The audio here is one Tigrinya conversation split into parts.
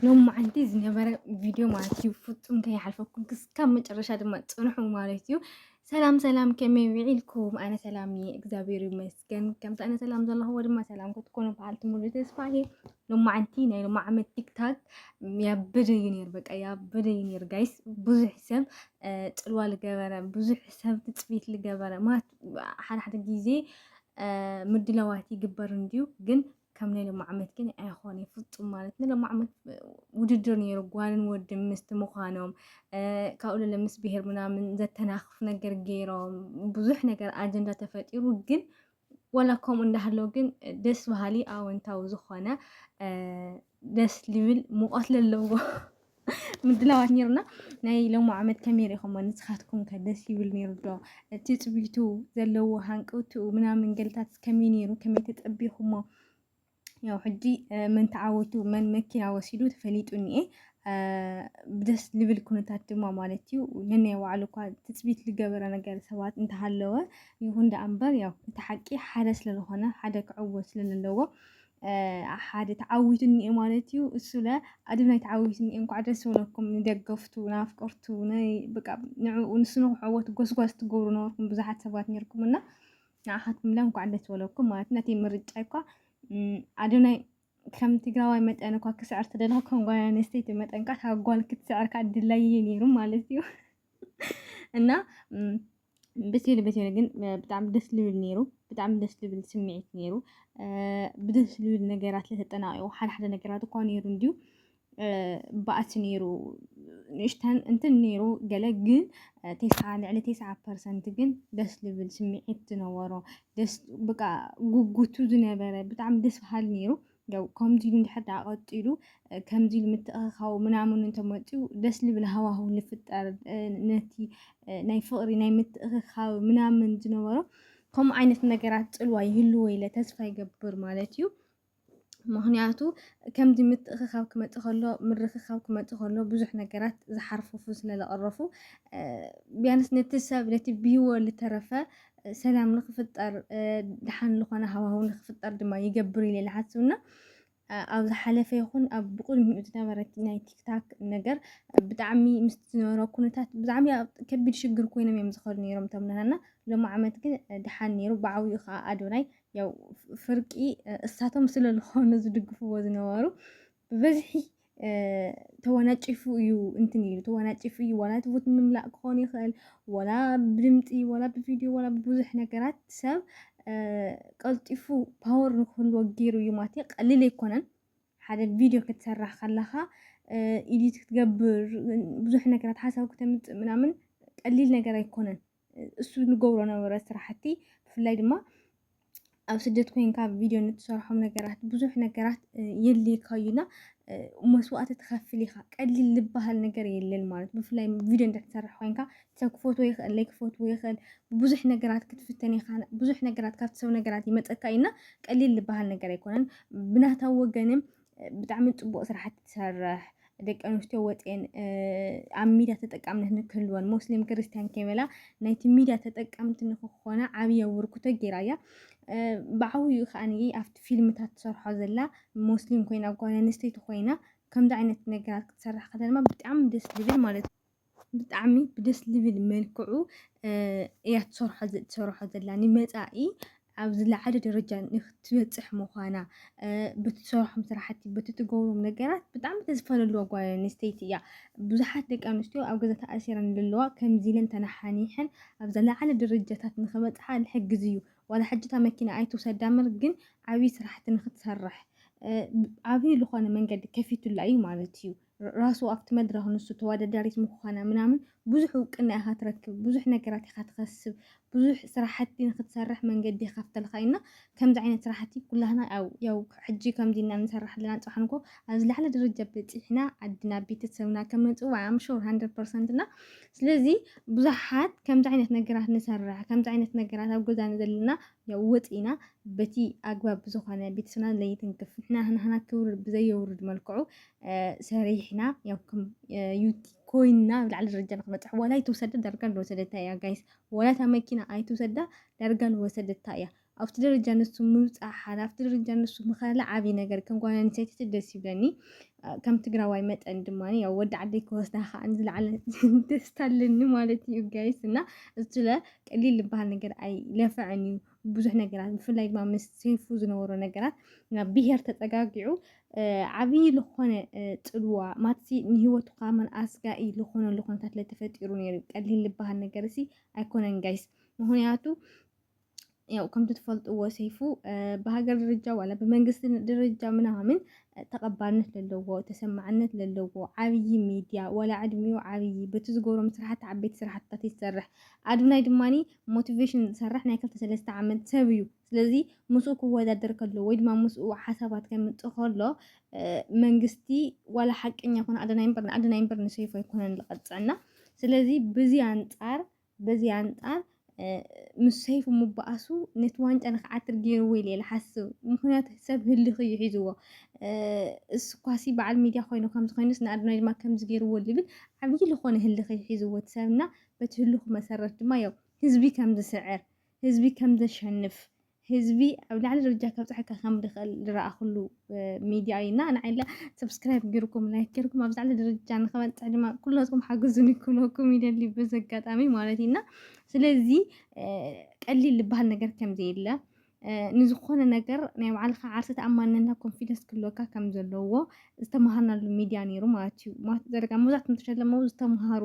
ሎማዓንቲ ዝነበረ ቪድዮ ማለት እዩ ፍፁም ከይሓልፈኩም ክስካብ መጨረሻ ድማ ፅንሑ ማለት እዩ ሰላም ሰላም ከመይ ውዒልኩም ኣነ ሰላም እየ እግዚኣብሔር ይመስገን ከምቲ ኣነ ሰላም ዘለኹዎ ድማ ሰላም ክትኮኑ በዓልቲ ሙሉ ተስፋ እየ ሎማዓንቲ ናይ ሎማ ዓመት ቲክታክ ያበደ እዩ ነይሩ በቃ ያበደ እዩ ነይሩ ጋይስ ብዙሕ ሰብ ፅልዋ ዝገበረ ብዙሕ ሰብ ትፅቢት ዝገበረ ማለት ሓደ ሓደ ግዜ ምድላዋት ይግበር እንድዩ ግን ከም ናይ ሎሚ ዓመት ግን ኣይኾነ ፍፁም ማለት ናይ ሎሚ ዓመት ውድድር ነይሩ ጓልን ወዲ ምስቲ ምዃኖም ካብኡ ለለ ምስ ብሄር ምናምን ዘተናኽፍ ነገር ገይሮም ብዙሕ ነገር ኣጀንዳ ተፈጢሩ ግን ወላ ከምኡ እንዳሃለው ግን ደስ በሃሊ ኣወንታዊ ዝኾነ ደስ ልብል ሙቐት ለለዎ ምድላዋት ነይሩና ናይ ሎሚ ዓመት ከመይ ሪኢኹሞ ንስኻትኩም ከ ደስ ይብል ነይሩ ዶ ትፅቢቱ ዘለዎ ሃንቀውትኡ ምናምን ገልታት ከመይ ነይሩ ከመይ ተፀቢኹሞ ያው ሕጂ መን ተዓወቱ መን መኪና ወሲዱ ተፈሊጡ እኒኤ ደስ ልብል ኩነታት ድማ ማለት እዩ ነናይ ባዕሉ እኳ ትፅቢት ዝገበረ ነገር ሰባት እንተሃለወ ይኹን ደኣ እምበር ያው እቲ ሓቂ ሓደ ስለዝኾነ ሓደ ክዕወት ስለዘለዎ ሓደ ተዓዊቱ እኒኤ ማለት እዩ። እሱ ለ ኣዶናይ ተዓዊቱ እኒኤ። እንኳዕ ደስ በለኩም ንደገፍቱ ናፍቀርቱ በቃ ንዕኡ ንሱ ንክዕወት ጎስጓስ ትገብሩ ነበርኩም ብዙሓት ሰባት ነርኩም እና ንዓኻትኩም ለ እንኳዕ ደስ በለኩም ማለት ነቲ ምርጫ እኳ ኣዶናይ ከም ትግራዋይ መጠን እኳ ክስዕር ተደለኹ ከም ጓል ኣንስተይቲ መጠን ካ ካብ ጓል ክትስዕር ካ ድላይየ ነይሩ ማለት እዩ እና በቴለ በቴለ ግን ብጣዕሚ ደስ ልብል ነይሩ ብጣዕሚ ደስ ልብል ስምዒት ነይሩ ብደስ ልብል ነገራት ለተጠናቂቑ ሓደ ሓደ ነገራት እኳ ነይሩ እንድዩ ባእሲ ነይሩ ንእሽተን እንትን ነይሩ ገለ ግን ቴስዓ ልዕሊ ቴስዓ ፐርሰንት ግን ደስ ልብል ስምዒት ዝነበሮ ደስ በቃ ጉጉቱ ዝነበረ ብጣዕሚ ደስ በሃሊ ነይሩ ያው ከምዚ ኢሉ እንድሕር ደኣ ቀጺሉ ከምዚ ኢሉ ምትእኽኻቡ ምናምኑ እንተመጺኡ ደስ ልብል ሃዋህው ልፍጠር ነቲ ናይ ፍቕሪ ናይ ምትእኽኻብ ምናምን ዝነበሮ ከምኡ ዓይነት ነገራት ጽልዋ ይህልዎ ኢለ ተስፋ ይገብር ማለት እዩ። ምክንያቱ ከምዚ ምትእኽኻብ ክመፅእ ከሎ ምርኽኻብ ክመፅእ ከሎ ብዙሕ ነገራት ዝሓርፍፉ ስለዘቐረፉ ቢያንስ ነቲ ሰብ ነቲ ብሂወ ዝተረፈ ሰላም ንክፍጠር ድሓን ዝኾነ ሃዋህው ንክፍጠር ድማ ይገብር ኢለ ዝሓስብ እና ኣብ ዝሓለፈ ይኹን ኣብ ብቅድሚኡ ዝነበረ ናይ ቲክታክ ነገር ብጣዕሚ ምስ ዝነበረ ኩነታት ብጣዕሚ ከቢድ ሽግር ኮይኖም እዮም ዝኸዱ ነይሮም እቶም ናና ሎሚ ዓመት ግን ድሓን ነይሩ ብዓብኡ ከዓ ኣዶናይ ያው ፍርቂ እሳቶም ስለዝኾኑ ዝድግፍዎ ዝነበሩ ብብዝሒ ተወናጪፉ እዩ እንትን ኢሉ ተወናጪፉ እዩ ዋላ እቲ ቡት ምምላእ ክኾን ይኽእል ዋላ ብድምፂ ዋላ ብቪድዮ ዋላ ብብዙሕ ነገራት ሰብ ቀልጢፉ ፓወር ንክህልዎ ገይሩ እዩ ማለት እዩ ቀሊል ኣይኮነን ሓደ ቪድዮ ክትሰራሕ ከለኻ ኢዲት ክትገብር ብዙሕ ነገራት ሓሳብ ክተምፅእ ምናምን ቀሊል ነገር ኣይኮነን እሱ ንገብሮ ነበረ ስራሕቲ ብፍላይ ድማ ኣብ ስደት ኮይንካ ቪድዮ ንትሰርሖም ነገራት ብዙሕ ነገራት የድልየካ እዩና መስዋእቲ ትኸፍል ኢኻ ቀሊል ዝበሃል ነገር የለን ማለት ብፍላይ ቪድዮ እንዳትሰርሕ ኮይንካ ሰብ ክፈትዎ ይኽእል ለይክፈትዎ ይኽእል ብዙሕ ነገራት ክትፍተን ኢኻ ብዙሕ ነገራት ካብቲ ሰብ ነገራት ይመፀካ እዩና ቀሊል ዝበሃል ነገር ኣይኮነን ብናታ ወገንም ብጣዕሚ ፅቡቅ ስራሕቲ ትሰርሕ ደቂ ኣንስትዮ ወፅኤን ኣብ ሚድያ ተጠቃምነት ንክህልወን ሙስሊም ክርስትያን ከይበላ ናይቲ ሚድያ ተጠቀምቲ ንክኾና ዓብይ ኣበርክቶ ገይራ እያ ብዓብይኡ ከዓ ኣብቲ ፊልምታት ትሰርሖ ዘላ ሙስሊም ኮይና ጓል ኣንስተይቲ ኮይና ከምዚ ዓይነት ነገራት ክትሰርሕ ከላ ድማ ብጣዕሚ ደስ ዝብል ማለት እዩ ብጣዕሚ ብደስ ዝብል መልክዑ እያ ትሰርሖ ዘላ ንመፃኢ ኣብ ዝለዓለ ደረጃ ንክትበፅሕ ምዃና ብትሰርሖም ስራሕቲ በቲ ትገብሮም ነገራት ብጣዕሚ ተስፋ ዘለዋ ጓል ኣንስተይቲ እያ። ብዙሓት ደቂ ኣንስትዮ ኣብ ገዛ ተኣሲረን ዘለዋ ከምዚ ኢለን ተነሓኒሐን ኣብ ዝለዓለ ደረጃታት ንክበፅሓ ዝሕግዝ እዩ። ዋላ ሕጂ እታ መኪና ኣይትውሰዳ እምበር ግን ዓብዪ ስራሕቲ ንክትሰርሕ ዓብዪ ዝኾነ መንገዲ ከፊቱላ እዩ ማለት እዩ። ራሱ ኣብቲ መድረኽ ንሱ ተወዳዳሪት ምዃና ምናምን ብዙሕ እውቅና ኢኻ ትረክብ፣ ብዙሕ ነገራት ኢኻ ትኸስብ፣ ብዙሕ ስራሕቲ ንክትሰርሕ መንገዲ ይኸፍተልካ እዩና ከምዚ ዓይነት ስራሕቲ ኩላህና ያው ያው ሕጂ ከምዚ እና ንሰራሕ ኣለና ጽባሕ ንኮ ኣብ ዝለዓለ ደረጃ በጺሕና ዓድና ቤተሰብና ከም ንጽዋዕ ኣም ሹር 100% እና ስለዚ ብዙሓት ከምዚ ዓይነት ነገራት ንሰርሕ ከምዚ ዓይነት ነገራት ኣብ ገዛ ዘለና ያው ወጺእና በቲ ኣግባብ ዝኾነ ቤተሰብና ለይትንክፍ ንሕና ንህና ክብሪ ብዘየውርድ መልክዑ ሰሪሕና ያው ከም ዩቲ ኮይና ኣብ ላዕሊ ደረጃ ንክበፅሕ ዋላ ኣይትውሰደ ዳርጋ ንወሰደታ እያ ጋይስ ዋላ እታ መኪና ኣይትውሰዳ ዳርጋ ንወሰደታ እያ ኣብቲ ደረጃ ንሱ ምብፃሕ ሓላፍቲ ደረጃ ንሱ ምኸላ ዓብዪ ነገር ከም ጓል ኣንስተይቲ ደስ ይብለኒ ከም ትግራዋይ መጠን ድማ ያው ወዲ ዓደይ ክወስዳ ከዓ ዝለዓለ ደስታ ኣለኒ ማለት እዩ ጋይስ እና እሱ ቀሊል ዝበሃል ነገር ኣይለፍዐን እዩ ብዙሕ ነገራት ብፍላይ ድማ ምስ ሰይፉ ዝነበሮ ነገራት ናብ ብሄር ተፀጋጊዑ ዓብዪ ዝኾነ ፅልዋ ማትሲ ንሂወቱ ከዓ መን ኣስጋኢ ዝኾነሉ ኩነታት ለተፈጢሩ ነይሩ ቀሊል ዝበሃል ነገር እሲ ኣይኮነን ጋይስ ምክንያቱ ያው ከምቲ ትፈልጥዎ ሰይፉ ብሃገር ደረጃ ዋላ ብመንግስቲ ደረጃ ምናምን ተቐባልነት ዘለዎ ተሰማዕነት ዘለዎ ዓብዪ ሚድያ ዋላ ዕድሚኡ ዓብዪ በቲ ዝገብሮም ስራሕቲ ዓበይቲ ስራሕትታት ይሰርሕ ኣዱናይ ድማ ሞቲቬሽን ዝሰርሕ ናይ ክልተ ሰለስተ ዓመት ሰብ እዩ ስለዚ ምስኡ ክወዳደር ከሎ ወይ ድማ ምስኡ ሓሳባት ከምፅእ ከሎ መንግስቲ ዋላ ሓቀኛ ኮነ ኣዶናይ እምበር ንኣዶናይ እምበር ንሰይፉ ኣይኮነን ዝቐፅዕና ስለዚ ብዚ ኣንፃር በዚ ኣንፃር ምስ ሰይፉ ምባኣሱ ነቲ ዋንጫ ንክዓትር ገይርዎ ኢለ ዝሓስብ ምክንያቱ ሰብ ህልኽ እዩ ሒዝዎ እሱ ኳሲ በዓል ሚድያ ኮይኑ ከምዚ ኮይኑስ ንኣዶናይ ድማ ከምዚ ገይርዎ ዝብል ዓብዪ ዝኾነ ህልኽ እዩ ሒዝዎ እቲ ሰብና በቲ ህሉኽ መሰረት ድማ ያው ህዝቢ ከም ዝስዕር፣ ህዝቢ ከም ዘሸንፍ፣ ህዝቢ ኣብ ላዕሊ ደረጃ ከብፅሐካ ከም ዝኽእል ዝረኣኹሉ ሚድያ እዩ እና ንዓይ ሰብስክራይብ ገይርኩም ላይክ ገይርኩም ኣብ ላዕሊ ደረጃ ንክበፅሕ ድማ ኩላትኩም ሓግዙኒ ክብለኩም ይደሊ በዚ ኣጋጣሚ ማለት እዩ እና ስለዚ ቀሊል ዝበሃል ነገር ከም ዘየለ ንዝኾነ ነገር ናይ ባዕልኻ ዓርሰ ተኣማንነትና ኮንፊደንስ ክህልወካ ከም ዘለዎ ዝተምሃርናሉ ሚድያ ነይሩ ማለት እዩ ማለት ዘለካ መብዛሕትኦም ተሸለሙ ዝተምሃሩ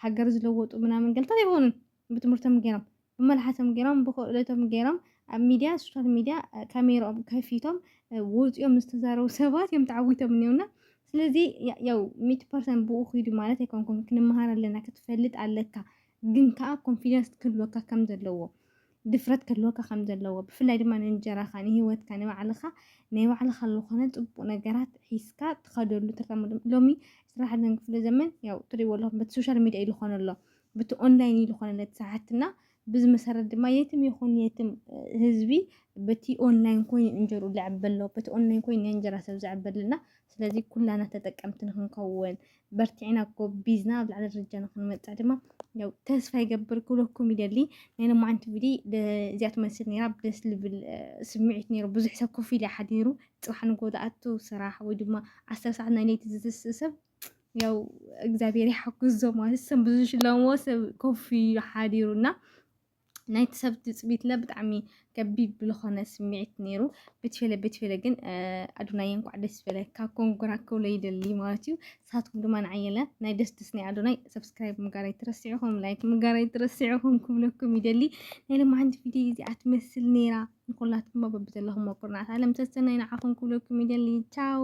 ሃገር ዝለወጡ ምናምን ገልታት ኣይኮኑን ብትምህርቶም ገይሮም ብመልሓሶም ገይሮም ብክእለቶም ገይሮም ኣብ ሚድያ ሶሻል ሚድያ ካሜራኦም ከፊቶም ወፂኦም ዝተዛረቡ ሰባት እዮም ተዓዊቶም እኒውና ስለዚ ያው ሚት ፐርሰንት ብኡ ክይዱ ማለት ኣይኮንኩም ክንመሃር ኣለና ክትፈልጥ ኣለካ ግን ከዓ ኮንፊደንስ ክህልወካ ከም ዘለዎ ድፍረት ክህልወካ ከም ዘለዎ ብፍላይ ድማ ንእንጀራኻ ንሂወትካ ንባዕልኻ ናይ ባዕልኻ ዝኾነ ጽቡቕ ነገራት ሒዝካ ትኸደሉ ትራመዱ ሎሚ ስራሕ ደን ክፍለ ዘመን ያው ትሪእዎ ኣለኹም በቲ ሶሻል ሚዲያ ኢሉ ኾነ ኣሎ በቲ ኦንላይን ኢሉ ኾነ ለቲ ሰሓትና ብዚ መሰረት ድማ የትም ይኹን የትም ህዝቢ በቲ ኦንላይን ኮይኑ እንጀሩ ዝዕበሎ በቲ ኦንላይን ኮይኑ ናይ እንጀራ ሰብ ዝዕበልና ስለዚ ኩላና ተጠቀምቲ ንክንከውን በርቲዕና ጎቢዝና ኣብ ላዕሊ ደረጃ ንክንመፅዕ ድማ ያው ተስፋ ይገብር ክብለኩም ይደሊ ናይ ሎማዓንቲ ቪድዮ እዚኣ ትመስል ነይራ ደስ ልብል ስምዒት ነይሩ ብዙሕ ሰብ ኮፍ ኢለ ሓዲሩ ፅባሕ ንጎ ዝኣቱ ስራሕ ወይ ድማ ዓሰርተ ሰዓት ናይ ለይቲ ዝትስእ ሰብ ያው እግዚኣብሔር ይሓግዞ ማለት ሰብ ብዙ ሽለሞ ሰብ ኮፍ ኢሉ ሓዲሩ እና ናይቲ ሰብ ትፅቢትና ብጣዕሚ ከቢድ ብዝኾነ ስምዒት ነይሩ ቤትፌለ ቤትፌለ ግን ኣዶናይ እንኳዕ ደስ በለካ ኮንጎራ ክብሎ ይደሊ ማለት እዩ ንሳትኩም ድማ ንዓየለ ናይ ደስ ደስ ናይ ኣዶናይ ሰብስክራይብ ምጋር ኣይትረስዕኹም ላይክ ምጋር ኣይትረስዕኹም ክብለኩም ይደሊ ናይ ለማዓንቲ ቪድዮ እዚኣ ትመስል ነይራ ንኩላትኩም በብዘለኹም ኩርናዓት ዓለም ሰሰናይ ንዓኹም ክብለኩም ይደሊ ቻው